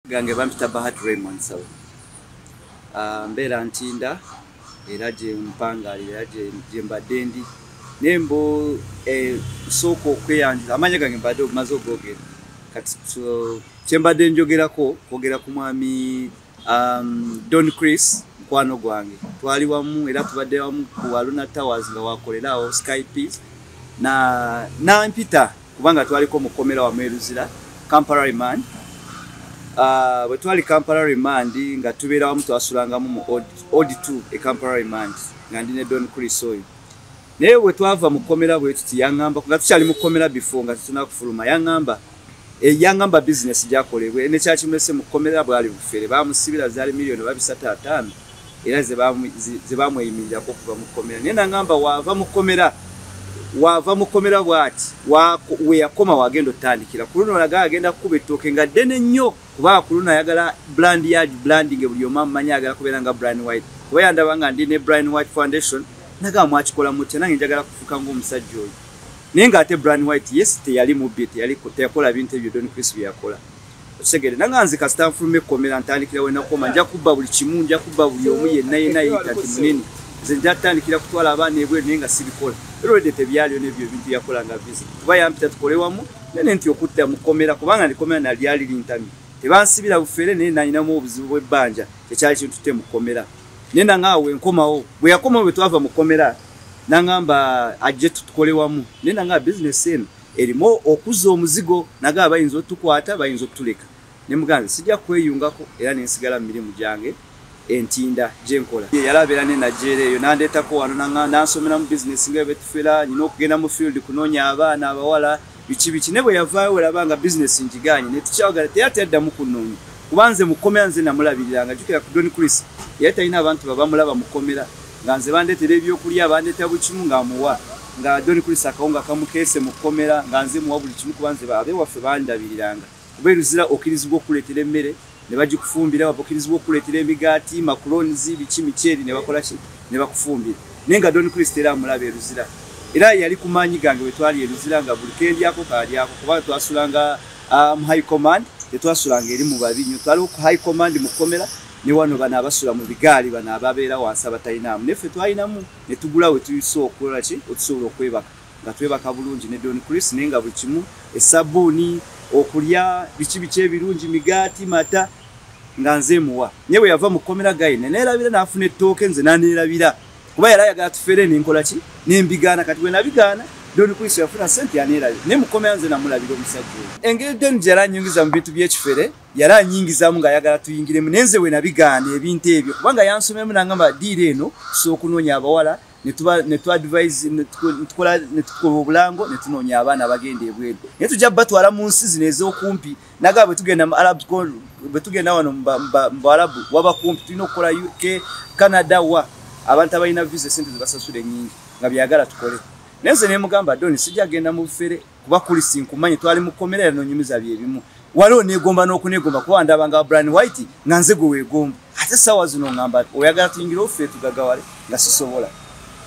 gange bampita bahat raymond saw ah, mbeera ntinda era gyempangalira era gyembadde ndi naye mbu eh, sooka okweyanjula amanya gange mbadde obumaze ogogera kati kyembadde njogerako kwogera ku mwami um, don chris mukwano gwange twali wamu era tubadde wamu ku aluna towers nga wakolerawo sky peace na nampita kubanga twaliko mu kkomera wamu e Luzira Kampala Remand. Ah, bwe twali Kampala Remand nga tubeera wamu twasulangamu mu Old 2 e Kampala Remand nga ndi ne Don Chris oyo. Naye bwe twava mu kkomera bwe tuti yang'amba nga tukyali mu kkomera before nga tetuna kufuluma yang'amba eyangamba eh, bizinesi gyakolebwa eh, nekyakimulese mu kkomera bwali bufere bamusibira zaali miliyoni babisatu ataano era zebamweyimirirako okuva mu kkomera naye nangamba waava mu kkomera waava mu kkomera bwati weyakoma wagenda otandikira ku luno olaga agenda kukuba ettooke nga ddene nnyo kuba ku luno ayagala brand yard branding buli omu amumanyi ayagala kubeera nga brian white kuba yandaba nga ndi ne brian white foundation nagamba mwakikola mutya nange njagala kufuuka ngaomusajja oyo naye ngaate brian white yes teyali mubbi teyakola bintu ebyo don chris byeyakola okitegere nanga nze kasita nfuluma ekkomera ntandikira wenakoma nja kubba buli kimu nja kubba buli omu yenna yenna yeyita nti munene nze nja tutandikira kutwala abaana ebweru naye nga sibikola erwedde tebyaliyo nebyo ebintu yakola nga bizi kuba yampita tukole wamu nene nti okudda mu kkomera kubanga ndikomera nalyali lintamye tebansibira bufere naye nalinamu obuzibu bwebbanja kyekyali kintutte mu kkomera naye nanga awo enkomawo bwe yakomawo bwe twava mu kkomera nangamba ajje tutukole wamu naye nanga bizinesi eno erimu okuzza omuzigo nagaba bayinza otukwata bayinza okutuleka ne muganzi sijja kweyungako era nensigala mu mirimu gyange entinda gyenkola yali abeera ne najera eyo nandeetako wano nansomera mu bizinesi nga ebetufera nyina okugenda mu field kunoonya abaana abawala biki biki ne bwe yavaayo weraba nga bizinesi ngigaanyi netukyawagala teyati addamu kunoonya kuba nze mukomera nze namulabiriranga jukira ku don chris yali talina abantu babamulaba mukomera nga nze bandetera ebyokulya bandeta bukimu nga amuwa nga doni kulisa akawunga kamukeese mu kkomera nga nze muwa buli kimu kuba nze abe waffe bandabiriranga kuba eruzira okirizibwa okukuleetera emmere ne bagikufumbira babukirizibwa okukuleetera emigaati makulonizi biki mikyeri ne bakola ki ne bakufumbira naye nga doni kulisa era amulaba eruzira era yali ku maanyi gange bwe twali eruzira nga buli kendyako kalyako kuba twasulanga ah, mu high command tetwasulanga eri mu babi nyo twaliwo ku high command mu kkomera ne wano bano abasula mu bigaali bano ababeera wansi abatalinaamu naye ffe twalinamu ne tugula we tuyisa okukola ki otusobola okwebaka nga twebaka bulungi ne don chris naye nga buli kimu esabuuni okulya biki biki ebirungi migaati mata nga nze muwa naye bwe yava mu kkomera gayi ne neerabira n'afuna ettooke nze naneerabira kuba yali ayagala tufeere nenkola ki nembigaana kati bwe nabigaana don chris yafuna sente yaneerabira naye mu kkomera nze namulabira omusajja oyo engeri don gyeyali anyingiza mu bintu by'ekifere yali anyingizamu ng'ayagala tuyingiremu naye nze wenabigaana ebintu ebyo kubanga yansomemu nangamba diira eno tusobola okunoonya abawala netukola obulango netunoonya abaana abagenda ebweru naye tujja batwala mu nsi zino ez'okumpi naga bwetugenda mu arab bwetugenda wano mubuarabu waba kumpi tulina okukola uk canada wa abantu abalina visa esente zebasasula enyingi nga byagala tukole naye nze nemugamba doni sijja genda mu bufere kuba kulisi nkumanyi twali mu kkomera era nonyumiza bye bimu waliwo negomba n'okunegomba kuba ndaba nga brian white nga nze gwe weegomba ate essaawa zino ngamba oyagala tuyingire offe tugagawale nga sisobola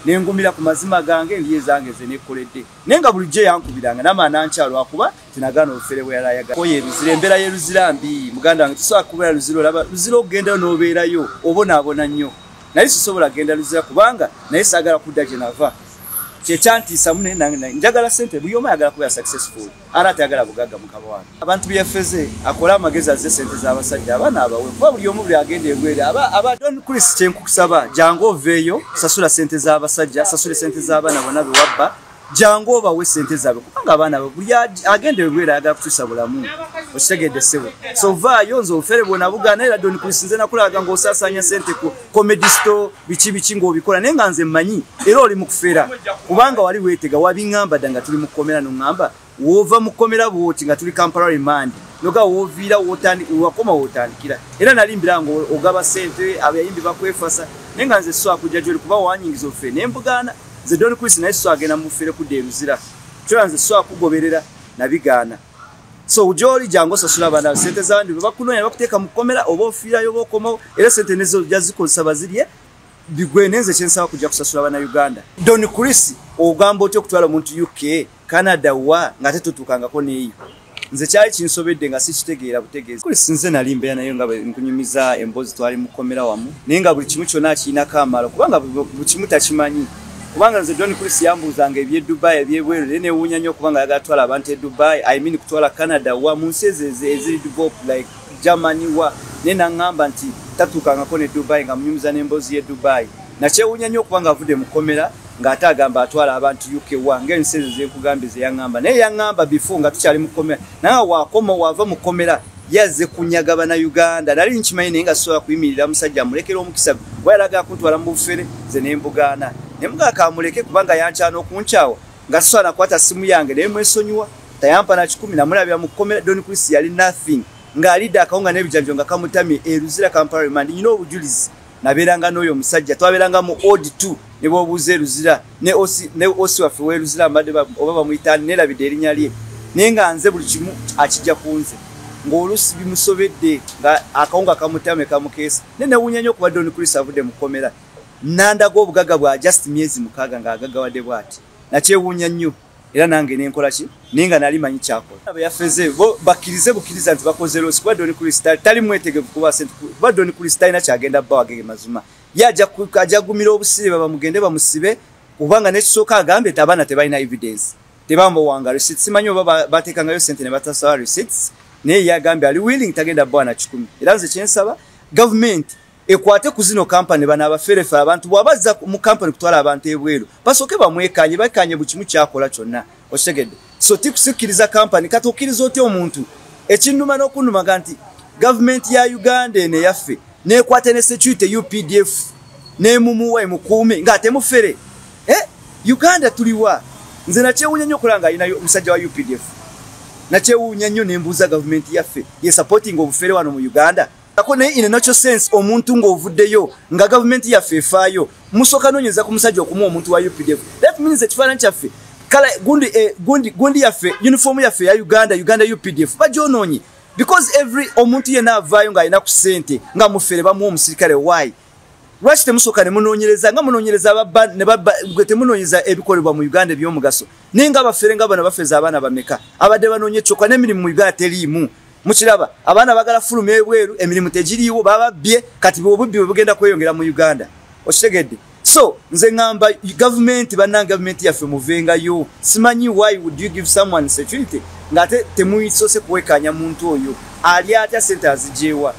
nengumira ku mazima gange ndi ezange ze nekoledde naye nga bulijjo yankubiranga nama nankya lwakuba tinagaana obufere bweyalayaoyo eruzira embeera yeruzira mbi muganda wange tusobola kubeera luzira olaba luzira okugendayo n'obeerayo obonaabona nnyo naye sisobola kugenda luzira kubanga naye saagala kudda gye nava kyekyantiisa mune nange njagala sente buli omu ayagala kubeera successful ara atayagala bugagga mukaba wange abantu byefeze akole amagezi azze sente z'abasajja abaana abawe kuba buli omu buli agenda egwere aba don chris kyenkukusaba jangu oveeyo sasula sente z'abasajja sasule sente z'abaana bona bewabba jangu obawe sente zaabwe kubanga abaana abe buli agenda egwere ayagala kukyusa bulamu okitegedde sebo so vaayo nze ofere bwona bugaana era don chris nze nakulaga ngaosaasanya sente ku comedy store biki biki ng'obikola naye nga nze mmanyi era oli mu kufera kubanga wali weetega wabiŋamba dda nga tuli mu kkomera noŋŋamba woova mu kkomera bwoti nga tuli kampala remandi noga wooviira wakoma wootandikira era nali mbira nga ogaba sente abayimbi bakwefasa naye nga nze so akujja gyoli kuba wanyingiza ofe ne mbugaana nze doni kuisi naye so agenda mufere kudda eruzira kyola nze so akugoberera nabigaana so ujoli jango sasula bana sente za ndi bakuno ya bakuteka mukomera obo ofira yobo komo era sente nezo jaziko sabazirie bigwe nenze chensa kuja kusasula bana Uganda Don Chris ogambo otyo kutwala muntu UK Canada wa ngate tutukanga ko neyo nze kyali kinsobedde nga sikitegeera butegeezi kuli sinze nali mbeera naye nga nkunyumiza emboozi twali mukomera wamu naye nga buli kimu kyonna akiinako amaalo kubanga buli kimu takimanyi kubanga nze john chris yambuuzanga ebye dubai ebyebweru naye newuunya nnyo kubanga yagala twala abantu e dubai i mean kutwala canada wa mu nsi ezo eziri develop like germany wa naye naŋŋamba nti tatuukangako ne dubai nga munyumiza n'emboozi ye dubai nakyewuunya nnyo okubanga avudde mu kkomera ng'ate agamba atwala abantu uk wa ngaensi ezo zenkugambye zeyaŋŋamba naye yaŋŋamba bifo nga tukyali mu kkomera naye waakoma waava mu kkomera yazze kunyaga bana uganda nali nkimanyi naye nga sisobola kuyimirira musajja amulekera omukisa gwe yalaga kuntwala mu bufere ze nembugaana ne mugaa kamuleke kubanga yankyana okunkyawa nga sisobola nakwata simu yange naye mwesonyiwa tayampa na kikumi namulabira mu kkomera don chris yali nothing ng'alidde akawo nga n'ebijanjo nga kamutamye eruzira kampala remandi nyina obujulizi nabeeranga n'oyo omusajja twabeeranga mu od t ne bwobuuza eruzira ne osi waffe weruzira mbadde oba bamuyitaani neerabidde erinnya lye naye nga nze buli kimu akijja ku nze ng'oluusi bimusobedde nga akawunga akamutame kamukeesa naye newunya nnyo okuba don chris avudde mu kkomera nandaga obugaga bwa just myezi mukaaga ng'agagawadde bwati nakyewuunya nnyo era nange nenkola ki naye nga nali manyi kyakola yafeze bo bakirize bukiriza nti bakoze losi kuba doni kulisi tali mwetegevu kuba sente kuba doni kulisi talina kyagenda bba wagege mazima ye ajja gumira obusibe babamugende bamusibe kubanga nekisooka agambye ti abaana tebalina evidence tebambowaanga receipt simanyi oba bateekangayo sente ne batasaba receipts naye ye agambye ali willing tagenda bba na kikumi era nze kyensaba gavumenti ekwate ku zino kampani bano abaferefe abantu bwabazza mu kampani kutwala abantu ebweru basooke bamwekanye bakanye buli kimu kyakola kyonna okitegedde so tikusikkiriza kampani kati okkiriza otya omuntu ekinnuma n'okunnumaga nti gavumenti ya uganda eno eyaffe nekwata ne security updf nemumuwa emukuume ng'ate mufere eh? uganda tuliwa nze nakyewuunya nnyo okulanga alina omusajja wa updf nakyewuunya nnyo nembuuza gavumenti yaffe ye supporting obufere wano mu uganda ako naye in a natural sense omuntu ng'ovuddeyo nga gavumenti yaffe efaayo musooka noonyeza ku musajja okumuwa omuntu wa updf that means ekifaananyi kyaffe kala gundi, eh, gundi, gundi yaffe uniform yaffe ya uganda uganda updf bagyonoonye because every omuntu yenna avaayo ng'alina ku ssente nga mufere bamuwa omusirikale why lwaki temusooka ne munoonyereza nga munoonyereza ababba ne babba gwe temunoonyereza ebikolebwa mu uganda ebyomugaso naye nga abafere nga bano bafeza abaana bameka abadde banoonye kyoka n'emirimu mu uganda teriimu mukiraba abaana bagala fuluma ebweru emirimu tegiriiwo bababbye kati bobubbi bwe bugenda kweyongera mu uganda okitegedde so nze ŋamba gavumenti bannange gavumenti yaffe muvengayo simanyi why would you give someone security ng'ate temusoose kuwekaanya muntu oyo ali atya sente azigyewa